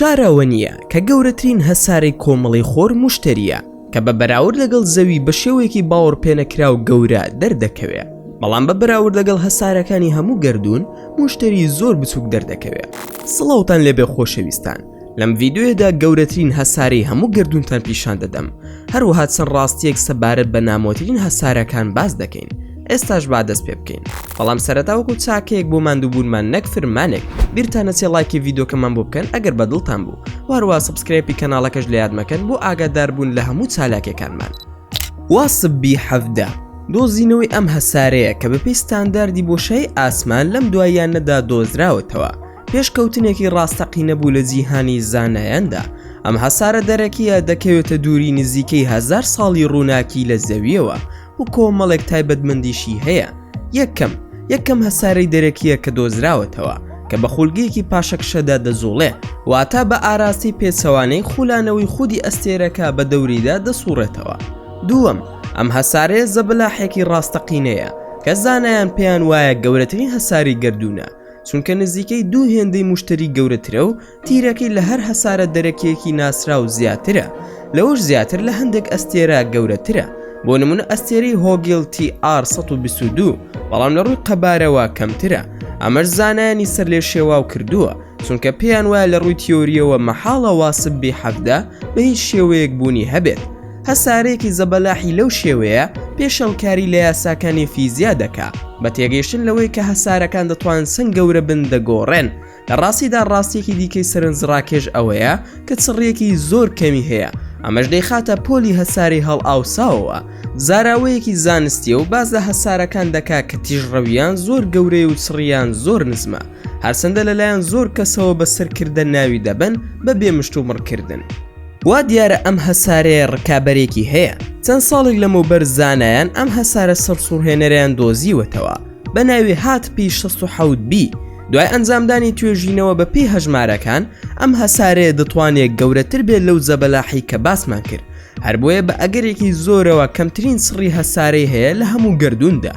شارەوەنییە کە گەورەترین هەسارەی کۆمەڵی خۆر مشتریە کە بە بەراورد لەگەڵ زەوی بە شێوەیەکی باوەڕ پێنەکراو گەورە دەردەکەوێت بەڵام بە بەراورد لەگەڵ هەسارەکانی هەموو گردردون مشتری زۆر بچووک دەردەکەوێت سڵاوتان لێبێ خۆشەویستان لەم ڤیددیویەدا گەورەترین هەسارەی هەموو گردونتان پیشان دەدەم هەروەها چەند ڕاستیەک سەبارەت بە نامۆترین هەسارەکان باز دەکەین ئێستاش با دەست پێ بکەین بەڵام سەرتاوەکو چاکەیەک بۆ مادووبوونمان نەک فرمانێک بیرتانە چێ لایکی یددیوکەمان بۆ بکەن ئەگەر بەدڵتان بوو واروا سبسکرێپی کەناڵەکەش لە یادمەکەن بۆ ئاگادار بوون لە هەموو چالاکەکانمان واسببی حەفدە دۆزینەوەی ئەم هەسارەیە کە بەپی ستانداردی بۆشای ئاسمان لەم دواییان نەدا دۆزراوەتەوە پێشکەوتنێکی ڕاستەقینە بوو لە جیهانی زانایاندا، ئەم هەسارە دەرەکییە دەکەوێتە دووری نزیکەی هەزار ساڵی ڕووناکی لە زەوییەوە و کۆمەڵێک تایبەتمەندیشی هەیە، یەکەم، یەکەم هەسارەی دەرەکییە کە دۆزراوەتەوە کە بە خولگەیەکی پاشەکشەدا دەجوڵێ، واتە بە ئاراستەی پێچەوانەی خولانەوەی خودی ئەستێرەکە بە دەوریدا دەسووڕێتەوە، دووەم، ئەم هەسارەیە زەبەلاحێکی ڕاستەقینەیە کە زانایان پێیان وایە گەورەترین هەساری گەردوونە، چونکە نزیکەی دوو هێندەی مشتری گەورەترە و تیرەکەی لە هەر هەسارە دەرەکیەکی ناسراو زیاترە لەوەش زیاتر لە هەندێک ئەستێرە گەورەترە بۆ نمونە ئەستێری هۆگیل TR 1922 بەڵام لە ڕووی قەبارەوە کەمترە ئەمەش زانایانی سەر لێ شێواو کردووە چونکە پێیان وایە لە ڕووی تیۆریەوە مەحاڵە واسب بی حەفدە بە هیچ شێوەیەک بوونی هەبێت هەسارەیەکی زەبەلاحی لەو شێوەیە پێشەڵکاری لە یاساکانی فیزیا دەکا بە تێگەیشتن لەوەی کە هەسارەکان دەتوان سنگ گەورە بن دەگۆڕێن لە ڕاستیدا ڕاستێکی دیکەی سەرنجڕاکێش ئەوەیە کە چڕیەکی زۆر کەمی هەیە ئەمەش دەیخاتە پۆلی هەساری هەڵ ئاوساوەوە زاراوەیەکی زانستیە و باز لە هەسارەکان دەکا کە تیژڕەویان زۆر گەورەی و چڕیان زۆر نزمە هەرسەندە لەلایەن زۆر کەسەوە بە سەرکردە ناوی دەبن بە بێمشت و مڕکردن. وا دیارە ئەم هەسارەیە ڕکابەرێکی هەیە، چەند ساڵێک لەمەوبەر زانایان ئەم هەسارە سەرسوڕهێنەرەیان دۆزیوەتەوە بە ناوی هات پی شەست و حەوت بی، دوای ئەنجامدانی توێژینەوە بە پێی هەژمارەکان ئەم هەسارەیە دەتوانێت گەورەتر بێت لەو زەبەلاحی کە باسمان کرد، هەر بۆیە بە ئەگەرێکی زۆرەوە کەمترین سڕی هەسارەی هەیە لە هەموو گەردووندا،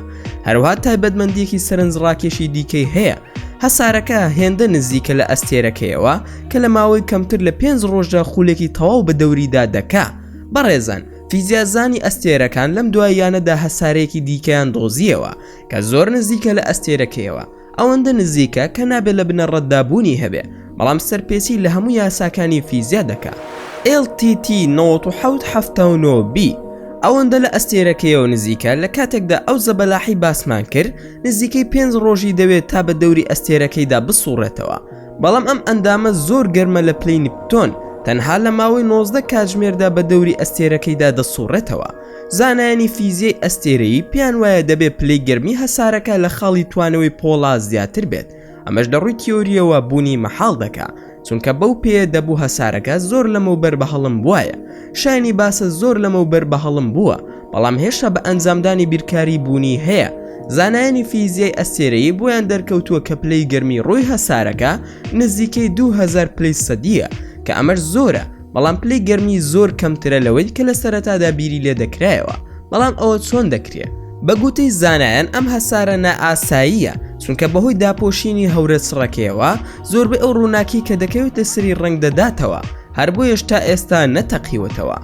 هەروەها تایبەتمەندییەکی سەرنجڕاکێشی دیکەی هەیە، هەسارەکە هێندە نزیکە لە ئەستێرەکەیەوە کە لە ماوەی کەمتر لە پێنج ڕۆژدا خولێکی تەواو بە دەوریدا دەکا بەڕێزان فیزیازانی ئەستێرەکان لەم دواییانەدا هەسارەیەکی دیکەیان دۆزیەوە کە زۆر نزیکە لە ئەستێرەکەیەوە ئەوەندە نزیکە کە نابێت لە بنەڕەتدابوونی هەبێ بەڵام سەرپێچی لە هەموو یاساکانی فیزیا دەکا LTT 1970B ئەوەندە لە ئەستێرەکەیەوە نزیکە لە کاتێکدا ئەو زەبەلاحی باسمان کرد نزیکەی پێنج ڕۆژی دەوێت تا بە دەوری ئەستێرەکەیدا بسوڕێتەوە بەڵام ئەم ئەندامە زۆر گەرمە لە پلەی نپتۆن تەنها لە ماوەی 19 کاتژمێردا بە دەوری ئەستێرەکەیدا دەسوڕێتەوە زانایانی فیزیای ئەستێرەیی پێیان وایە دەبێت پلەی گەرمی هەسارەکە لە خاڵی توانەوەی پۆڵا زیاتر بێت ئەمەش لە ڕووی تیۆرییەوە بوونی مەحاڵ دەکا چونکە بەو پێیە دەبوو هەسارەکە زۆر لەمەوبەر بە هەڵم بوایە شایانی باسە زۆر لەمەوبەر بە هەڵم بووە بەڵام هێشتا بە ئەنجامدانی بیرکاری بوونی هەیە زانایانی فیزیای ئەستێرەیی بۆیان دەرکەوتووە کە پلەی گەرمی ڕووی هەسارەکە نزیکەی 2000 پلەی سەدیە کە ئەمەش زۆرە بەڵام پلەی گەرمی زۆر کەمترە لەوەی کە لە سەرەتادا بیری لێ دەکرایەوە بەڵام ئەوە چۆن دەکرێت بەگوتەی زانایان ئەم هەسارە نائاساییە چونکە بەهۆی داپۆشینی هەورە چڕەکەیەوە زۆربەی ئەو ڕووناکی کە دەکەوێتە سری ڕنگ دەداتەوە هەر بۆ هێشتا ئێستا نەتەقیوەتەوە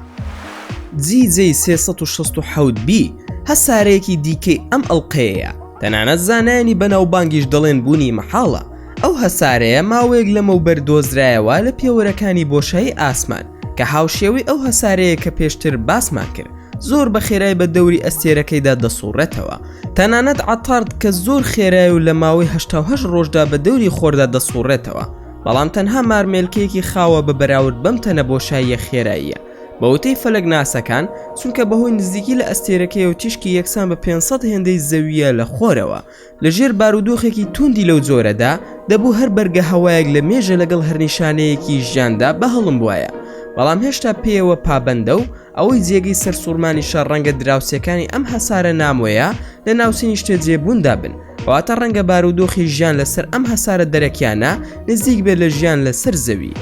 جیجی 360 بی هەسارەیەکی دیکەی ئەم ئەڵلقەیە تەنانەت زانایانی بەناوبانگیش دەڵێن بوونی مەحاڵە ئەو هەسارەیە ماوەیەک لەمەوبەر دۆزرایەوە لە پێوەرەکانی بۆشایی ئاسمان، کە هاوشێوەی ئەو هەسارەیە کە پێشتر باسمان کرد، زۆر بە خێرای بە دەوری ئەستێرەکەیدا دەسوڕێتەوە. تەنانەت عەتارد کە زۆر خێرایە و لە ماوەی هەشتا و هەشت ڕۆژدا بە دەوری خۆردا دەسوڕێتەوە، بەڵام تەنها مارمێلکەیەکی خاوە بە بەراورد بەم تەنە بۆشاییە خێراییە. بە وتەی فەلەکناسەکان، چونکە بەهۆی نزیکی لە ئەستێرەکەیەوە تیشکی یەکسان بە پێنج سەد هێندەی زەوییە لە خۆرەوە، لە ژێر بارودۆخێکی توندی لەو جۆرەدا، دەبوو هەر بەرگە هەوایەک لە مێژە لەگەڵ هەر نیشانەیەکی ژیاندا بەهەڵمبوایە، بەڵام هێشتا پێیەوە پابەندە و ئەوەی جێگەی سەرسوڕمانیشە ڕەنگە دراوسێکانی ئەم هەسارە نامۆیە لە ناوچەی نیشتەجێبووندا بن، کەواتە ڕەنگە بارودۆخی ژیان لەسەر ئەم هەسارە دەرەکییانە نزیک بێت لە ژیان لەسەر زەوی.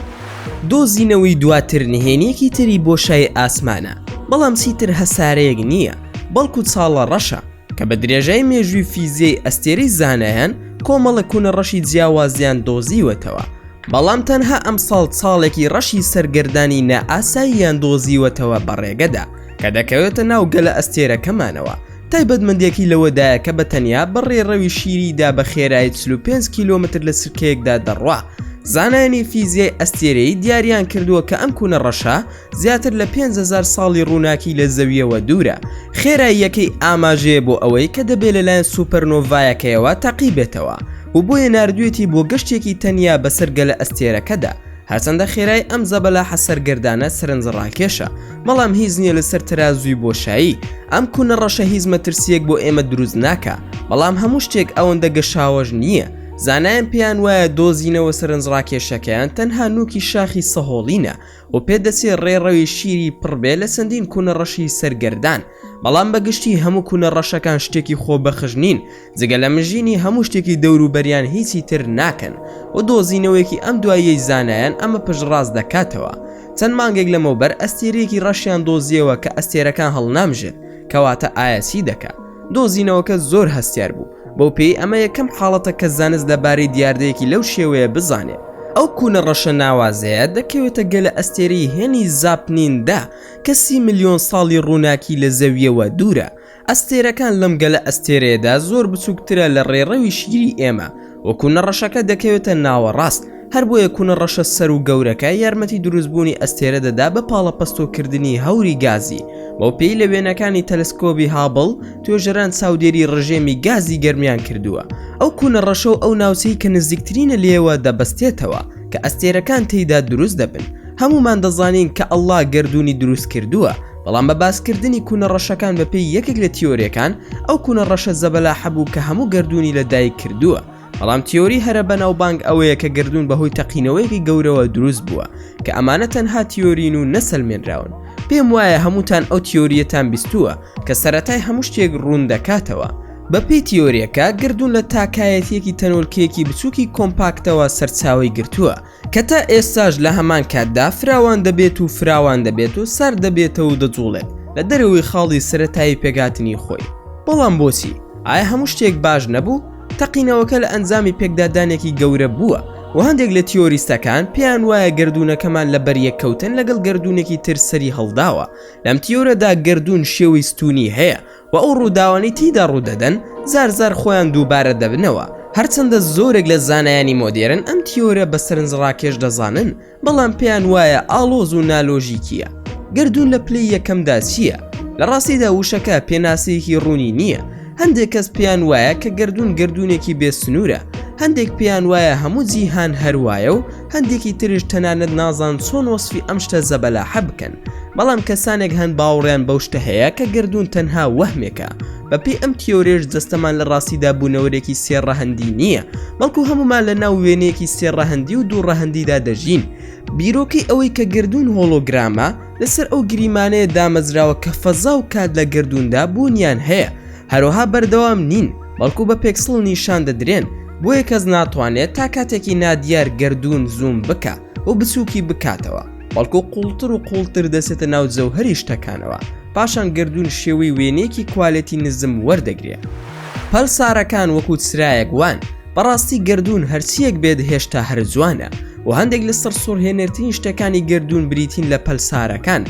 دۆزینەوەی دواتر نهێنییەکی تری بۆشای ئاسمانە، بەڵام چیتر هەسارەیەک نییە، بەڵکو چاڵە ڕەشە، کە بە درێژای مێژووی فیزیای ئەستێرەی زانایان کۆمەڵە کوونە ڕەشی جیاوازیان دۆزیوەتەوە بەڵام تەنها ئەم ساڵ ساڵێکی ڕەشی سەرگەردانی نائاساییان دۆزیوەتەوە بەڕێگەدا کە دەکەوێتە ناو گەلە ئەستێرەکەمانەوە تایبەتمەندێکی لەوەدایە کە بە تەنیا بە ڕێڕەوی شیریدا بە خێرایی 45 کیلومتر لە سرکەیەکدا دەڕوا زانایانی فیزیای ئەستێرەی دیاریان کردووە کە ئەم کوونە ڕەشە زیاتر لە پێنج هەزار ساڵی ڕووناکی لە زەوییەوە دوورە، خێراییەکەی ئاماژەیە بۆ ئەوەی کە دەبێت لەلایەن سوپەرنۆڤایەکەیەوە تاقیبێتەوە و بۆیە ناردوویەتی بۆ گەشتێکی تەنیا بەسەر گەلەئەستێرەکەدا، هەرچەندە خێرایی ئەم زەبەلاحە سەرگەردانە سەرنجڕاکێشە، بەڵام هیچ نییە لەسەر تەرازووی بۆشایی، ئەم کونە ڕەشە هیچ مەترسییەک بۆ ئێمە دروست ناکا، بەڵام هەموو شتێک ئەوەندە گەشاوەش نییە، زانایان پێیان وایە دۆزینەوە سەرنجڕاکێشەکەیان تەنها نووکی شاخی سەهۆڵینە، و پێ دەچێ ڕێڕەوی شیری پڕ بێ لە چەندین کونە ڕەشی سەرگەردان بەڵام بە گشتی هەموو کونە ڕەشەکان شتێکی خۆ بەخش نین جگە لە مژینی هەموو شتێکی دەوروبەریان هیچی تر ناکەن و دۆزینەوەیەکی ئەم دواییەی زانایان ئەمە پشتڕاست دەکاتەوە چەند مانگێک لەمەوبەر ئەستێرەیەکی ڕەشیان دۆزیەوە کە ئەستێرەکان هەڵنامژێت کەواتە ئایا چی دەکا دۆزینەوەکە زۆر هەستیار بوو بەو پێی ئەمە یەکەم حاڵەتە کە زانست لە بارەی دیاردەیەکی لەو شێوەیە بزانێ ئەو کوونە ڕەشە ناوازەیە دەکەوێتە گەلە ئەستێرەی هێنی زاپنیندا کە سی ملیۆن ساڵی ڕووناکی لە زەوییەوە دوورە ئەستێرەکان لەم گەلە ئەستێرەیەدا زۆر بچووکترە لە ڕێڕەوی شیری ئێمە وە کوونە ڕەشەکە دەکەوێتە ناوەڕاست هەر بۆیە کونە ڕەشە سەرو گەورەکە یارمەتی دروست بوونی ئەستێرە دەدا بە پاڵەپەستۆ کردنی هەوری گازی، بەو پێی لە وێنەکانی تەلسکۆبی هابڵ توێژەران چاودێری ڕژێمی گازی گەرمیان کردووە، ئەو کونە ڕەشەو ئەو ناوچەی کە نزیکترینە لێیەوە دەبەستێتەوە کە ئەستێرەکان تێیدا دروست دەبن، هەموومان دەزانین کە اللە گەردوونی دروست کردووە، بەڵام بە باس کردنی کونە ڕەشەکان بە پێی یەکێک لە تیۆریەکان ئەو کونە ڕەشە زەبەلاحە بوو کە هەموو گەردوونی لە دایک کردووە، بەڵام تیۆری هەرە بەناوبانگ ئەوەیە کە گەردوون بەهۆی تەقینەوەیەکی گەورەوە دروست بووە کە ئەمانە تەنها تیۆرین و نەسەلمێنراون پێم وایە هەمووتان ئەو تیۆریەتان بیستووە کە سەرەتای هەموو شتێک ڕوون دەکاتەوە بەپێی تیۆریەکە گەردوون لە تاکایەتیەکی تەنۆلکەیەکی بچووکی کۆمپاکتەوە سەرچاوەی گرتووە کە تا ئێستاش لە هەمان کاتدا فراوان دەبێت و فراوان دەبێت و سارد دەبێتەوە و دەجوڵێت لە دەرەوەی خاڵی سەرەتایی پێکهاتنی خۆی بەڵام بۆچی ئایا هەموو شتێک باش نەبوو تەقینەوەکە لە ئەنجامی پێکدادانێکی گەورە بووە و هەندێک لە تیۆریستەکان پێیان وایە گردوونەکەمان لە بەریەک کەوتن لەگەڵ گردوونێکی تر سەری هەڵداوە لەم تیۆرەدا گردوون شێوەی ستونی هەیە و ئەو ڕووداوانەی تێیدا ڕوودەدەن جار جار خۆیان دووبارە دەبنەوە، هەرچەندە زۆرێک لە زانایانی مۆدێرن ئەم تیۆرە بە سەرنجڕاکێش دەزانن، بەڵام پێیان وایە ئاڵۆز و نالۆژیکییە. گەردوون لە پلەی یەکەمدا چییە؟ لە ڕاستیدا وشەکە پێناسەیەکی ڕوونی نییە، هەندێک کەس پێیان وایە کە گەردوون گەردوونێکی بێ سنوورە، هەندێک پێیان وایە هەموو جیهان هەر وایە و هەندێکی تریش تەنانەت نازان چۆن وەسفی ئەم شتە زەبەلاحە بکەن بەڵام کەسانێک هەن باوەڕیان بەو شتە هەیە کە گەردوون تەنها وەهمێکە بەپێی ئەم تیۆرێش جەستەمان لە ڕاستیدا بوونەوەرێکی سێ ڕەهەندی نییە بەڵکو هەمومان لە ناو وێنەیەکی سێ ڕەهەندی و دوو ڕەهەندیدا دەژین بیرۆکەی ئەوەی کە گردوون هۆڵۆگرامە لەسەر ئەو گریمانەیە دامەزراوە کە فەزا و کات لە گردووندا بوونیان هەیە هەرۆها بەردەوام نین بەڵکو بە پێکسڵ نیشان دەدرێن بۆیە کەس ناتوانێت تا کاتێکی نادیار گردوون زووم بکە و بچووکی بکاتەوە بەڵکو قوڵتر و قوڵتر دەسێتە ناو جەوهری شتەکانەوە پاشان گردوون شێوەی وێنێکی کوالێتی نزم وەردەگرێت پەلسارەکان وەکو چرایەک وان بەڕاستی گردوون هەرچیەک بێت هێشتا هەر جوانە و هەندێک لە سەر سوورهێنەرترین شتەکانی گردوون بریتین لە پەلسارەکان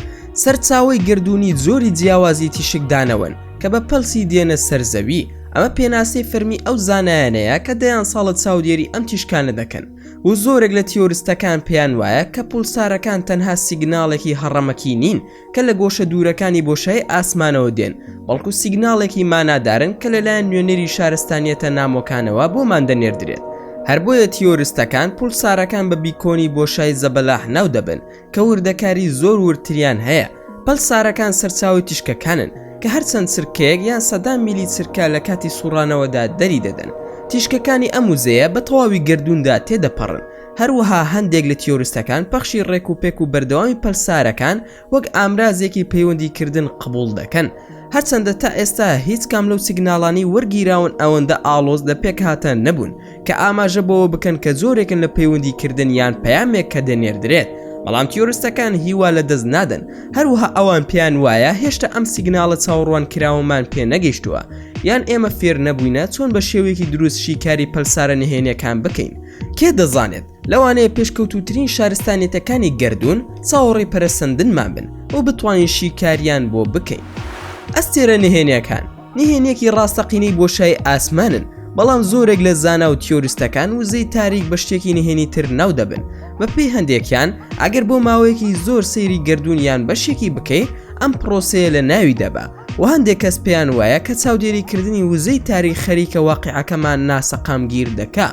سەرچاوی گردوونی زۆری جیاوازی تیشکدانەوەن کە بە پەلسی دێنە سەر زەوی، ئەمە پێناسەی فەرمی ئەو زانایانەیە کە دەیان ساڵە چاودێری ئەم تیشکانە دەکەن و زۆرێک لە تیۆرستەکان پێیان وایە کە پولسارەکان تەنها سیگناڵێکی هەڕەمەکی نین کە لە گۆشە دوورەکانی بۆشای ئاسمانەوە دێن بەڵکو سیگناڵێکی مانادارن کە لەلایەن نوێنەری شارستانیەتە نامۆکانەوە بۆمان دەنێردرێت هەر بۆیە تیۆرستەکان پولسارەکان بە بیکۆنی بۆشای زەبەلاح ناو دەبن کە وردەکاری زۆر وردتریان هەیە، پەلسارەکان سەرچاوەی تیشکەکانن کە هەر چەند چرکەیەک یان سەدان میلی چرکە لە کاتی سوڕانەوەدا دەریدەدەن. تیشکەکانی ئەم وزەیە بە تەواوی گەردووندا تێدەپەڕن. هەروەها هەندێک لە تیۆریستەکان پەخشی ڕێکوپێک و بەردەوامی پەلسارەکان وەک ئامرازێکی پەیوەندیکردن قبوڵ دەکەن. هەرچەندە تا ئێستا هیچ کام لەو سیگناڵانەی وەرگیراون ئەوەندە ئاڵۆز لە پێکهاتە نەبوون، کە ئاماژە بەوە بکەن کە جۆرێکن لە پەیوەندی کردن یان پەیامێک کە دەنێردرێت بەڵام تیۆرستەکان هیوا لە دەست نادەن هەروەها ئەوان پێیان وایە هێشتا ئەم سیگناڵە چاوەڕوان کراوەمان پێ نەگەیشتووە یان ئێمە فێر نەبووینە چۆن بە شێوەیەکی دروست شیکاری پەلسارە نهێنەکان بکەین کێ دەزانێت لەوانەیە پێشکەوتوترین شارستانێتەکانی گردردون چاوەڕی پەرەسەندنمان بن و بتوانین شیکاریان بۆ بکەین ئەستێرە نهێنەکان نهێنیەکی ڕاستەقینەی بۆشای ئاسمانن بەڵام زۆرێک لە زانا و تیۆریستەکان وزەی تاریک بە شتێکی نهێنی تر ناو دەبن بە پێی هەندێکیان ئەگەر بۆ ماوەیەکی زۆر سەیری گردردونیان بەشێکی بکەیت ئەم پرۆسەیە لە ناوی دەبە و هەندێک کەس پێیان وایە کە چاودێریکردنی وزەی تاریک خەریکە واقعەکەمان ناسەقامگیر دەکا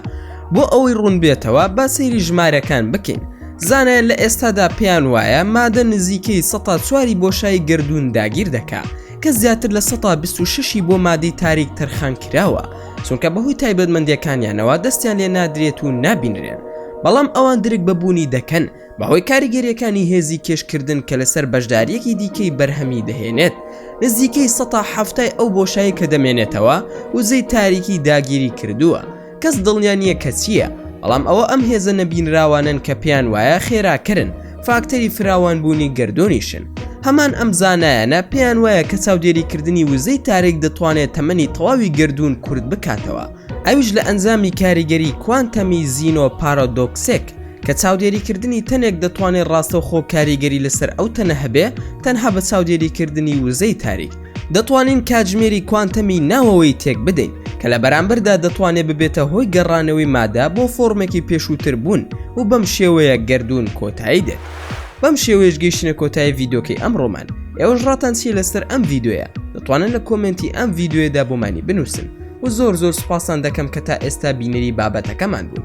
بۆ ئەوەی ڕوون بێتەوە با سەیری ژمارەکان بکەین زانایان لە ئێستادا پێیان وایە مادە نزیکەی سەتا چواری بۆشای گردردون داگیر دەکا کە زیاتر لە سەدا بیست و شەشی بۆ مادەی تاریک تەرخان کراوە چونکە بەهۆی تایبەتمەندیەکانیانەوە دەستیان لێ نادرێت و نابینرێن بەڵام ئەوان درک بە بوونی دەکەن بەهۆی کاریگەریەکانی هێزی کێشکردن کە لەسەر بەشداریەکی دیکەی بەرهەمی دەهێنێت نزیکەی سەدا حەفتای ئەو بۆشایی کە دەمێنێتەوە وزەی تاریکی داگیری کردووە کەس دڵنیا نییە کە چییە، بەڵام ئەوە ئەم هێزە نەبینراوانەن کە پێیان وایە خێراکەرن، فاکتەری فراوانبوونی گەردوونیشن. هەمان ئەم زانایانە پێیان وایە کە چاودێریکردنی وزەی تارێک دەتوانێت تەمەنی تەواوی گەردوون کورت بکاتەوە، ئەویش لە ئەنجامی کاریگەری کوانتەمی زینۆ پارادۆکسێک، کە چاودێریکردنی تەنێک دەتوانێت ڕاستەوخۆ کاریگەری لەسەر ئەو تەنە هەبێت تەنها بە چاودێریکردنی وزەی تاریک. دەتوانین کاتژمێری کوانتەمی ناوەوەی تێک بدەین کە لە بەرامبەردا دەتوانێت ببێتە هۆی گەڕانەوەی مادە بۆ فۆرمێکی پێشووتر بوون و بەم شێوەیە گەردوون کۆتایی دێت بەم شێوەیەش گەیشتنە کۆتایی ڤیدۆکەی ئەم ڕۆمان ئێوەش ڕاتان چیە لەسەر ئەم ڤیددیوە دەتوانن لە کۆمنتی ئەم ڤیددیوێدا بۆمانی بنووسن و زۆر زۆر سوپاسان دەکەم کە تا ئێستا بینەری بابەتەکەمان بوون